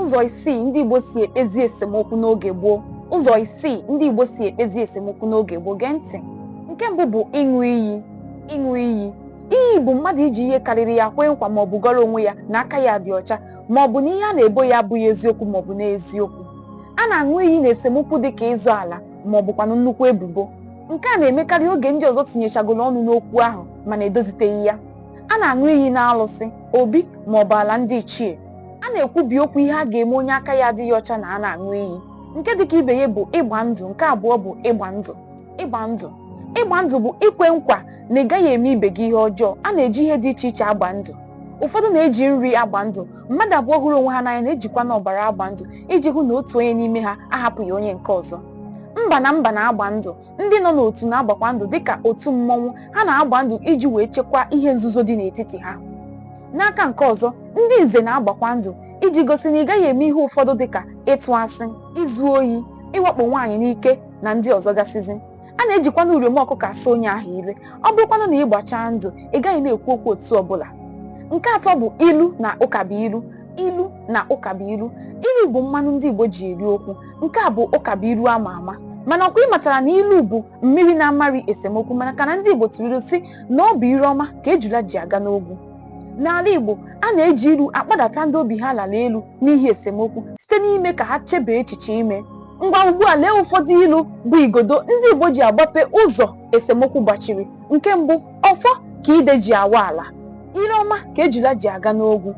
Ụzọ isii ndị Igbo si ekpezi esemokwu n'oge gboo Ụzọ isii ndị Igbo si ekpezi esemokwu n'oge gboo gee ntị nke mbụ bụ ịṅụ iyi ịṅụ iyi iyi bụ mmadụ iji ihe karịrị ya kwee nkwa maọbụ gọrọ onwe ya na aka ya dị ọcha maọbụ na ihe a na-ebo ya abụghị eziokwu maọbụ n'eziokwu a na-aṅụ iyi na esemokwu dị ka ịzọ ala maọbụkwanụ nnukwu ebubo nke a na-emekarị oge ndị ọzọ tinyechagoro ọnụ n'okwu ahụ mana edoziteghị ya a na-aṅụ iyi na alụsị obi maọbụ ala ndị ichie a na-ekwubi okwu ihe a ga-eme onye aka ya adịghị ọcha na a na-aṅụ iyi nke dịka ibe ya bụ ịgba ndụ nke abụọ bụ ịgba ndụ ịgba ndụ ịgba ndụ bụ ikwe nkwa na ị gaghị eme ibe gị ihe ọjọọ a na-eji ihe dị iche iche agba ndụ ụfọdụ na-eji nri agba ndụ mmadụ abụọ hụrụ onwe ha n'anya na-ejikwana ọbara agba ndụ iji hụ na otu onye n'ime ha ahapụghị onye nke ọzọ mba na mba na-agba ndụ ndị nọ n'otu na-agbakwa ndụ dịka otu mmọnwụ ha na-agba ndụ iji wee chekwaa ihe nzuzo dị n'etiti ha n'aka nke ọzọ ndị nze na-agbakwa ndụ iji gosi na ị gaghị eme ihe ụfọdụ dịka ịtụ asị izu ohi ịwakpo nwaanyị n'ike na ndị ọzọ gasịzi a na-ejikwana uriom ọkụkọ asa onye ahụ ire ọ bụrụkwanụ na ị gbachaa ndụ ị gaghị na-ekwu okwu otu ọbụla nke atọ bụ ilu na ụkabuilu ilu na ụkabuilu ilu bụ mmanụ ndị Igbo ji eri okwu nke a bụ ụkabuilu ama ama mana ọkwa ị matara na ilu bụ mmiri na-amari esemokwu maka na ndị Igbo tụrụ ilu sị na ọ bụ ire ọma ka ejula ji aga n'ogwu n'ala Igbo a na-eji ilu akpadata ndị obi ha lara elu n'ihi esemokwu site n'ime ka ha chebee echiche ime ngwa ugbu a lee ụfọdụ ilu bụ igodo ndị Igbo ji agbape ụzọ esemokwu gbachiri nke mbụ ọfọ ka ide ji awa ala ire ọma ka ejula ji aga n'ogwu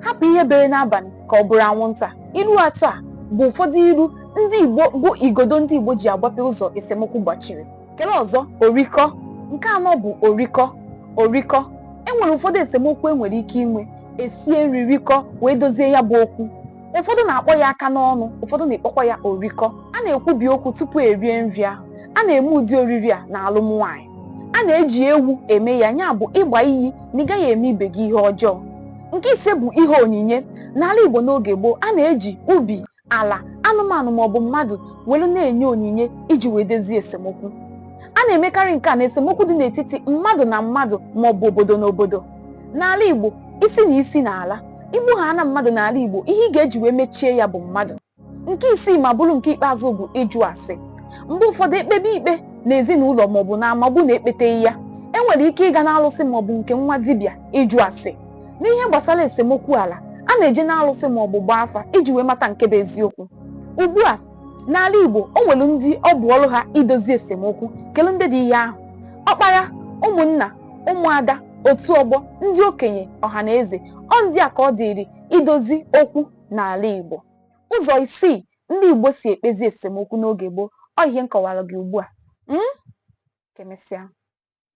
hapụ ihe bere n'abalị ka ọ bụrụ anwụnta ilu atọ a bụ ụfọdụ ilu ndị igbo bụ igodo ndị igbo ji agbape ụzọ esemokwu gbachiri kele ọzọ orikọ nke anọ bụ orikọ orikọ e nwere ụfọdụ esemokwu e nwere ike inwe esie nri rikọ wee dozie ya bụ okwu ụfọdụ na-akpọ ya aka n'ọnụ ụfọdụ na-ekpọkwa ya orikọ a na-ekwubi okwu tupu erie nri ahụ a na-eme ụdị oriri a na alụm nwaanyị a na-eji ewu eme ya ya bụ ịgba iyi na ị gaghị eme ibe gị ihe ọjọọ nke ise bụ ihe onyinye n'ala Igbo n'oge gboo a na-eji ubi ala anụmanụ maọbụ mmadụ welu na-enye onyinye iji wee dozie esemokwu a na-emekarị nke a na esemokwu dị n'etiti mmadụ na mmadụ maọbụ obodo na obodo n'ala Igbo isi na isi na-ala i gbuhaana mmadụ n'ala Igbo ihe ị ga-eji wee mechie ya bụ mmadụ nke isii ma bụrụ nke ikpeazụ bụ ịjụ ase mgbe ụfọdụ ekpebe ikpe na ezinụlọ maọbụ n'ama ọ bụ na ekpeteghị ya enwere ike ịga n'alụsị maọbụ nke nwa dibịa ịjụ ase n'ihe gbasara esemokwu ala a na-eje n'alụsị maọbụ gbaa afa iji wee mata nke bụ eziokwu ugbu a n'ala Igbo o nwere ndị ọ bụ ọrụ ha idozi esemokwu kele ndị dị ihe ahụ ọkpara ụmụnna ụmụada otu ọgbọ ndị okenye ọha na eze ọ ndị a ka ọ dịịrị idozi okwu n'ala Igbo ụzọ isii ndị Igbo si ekpezi esemokwu n'oge gboo ọ ihe m kọwara gị ugbu a Mm? kemesịa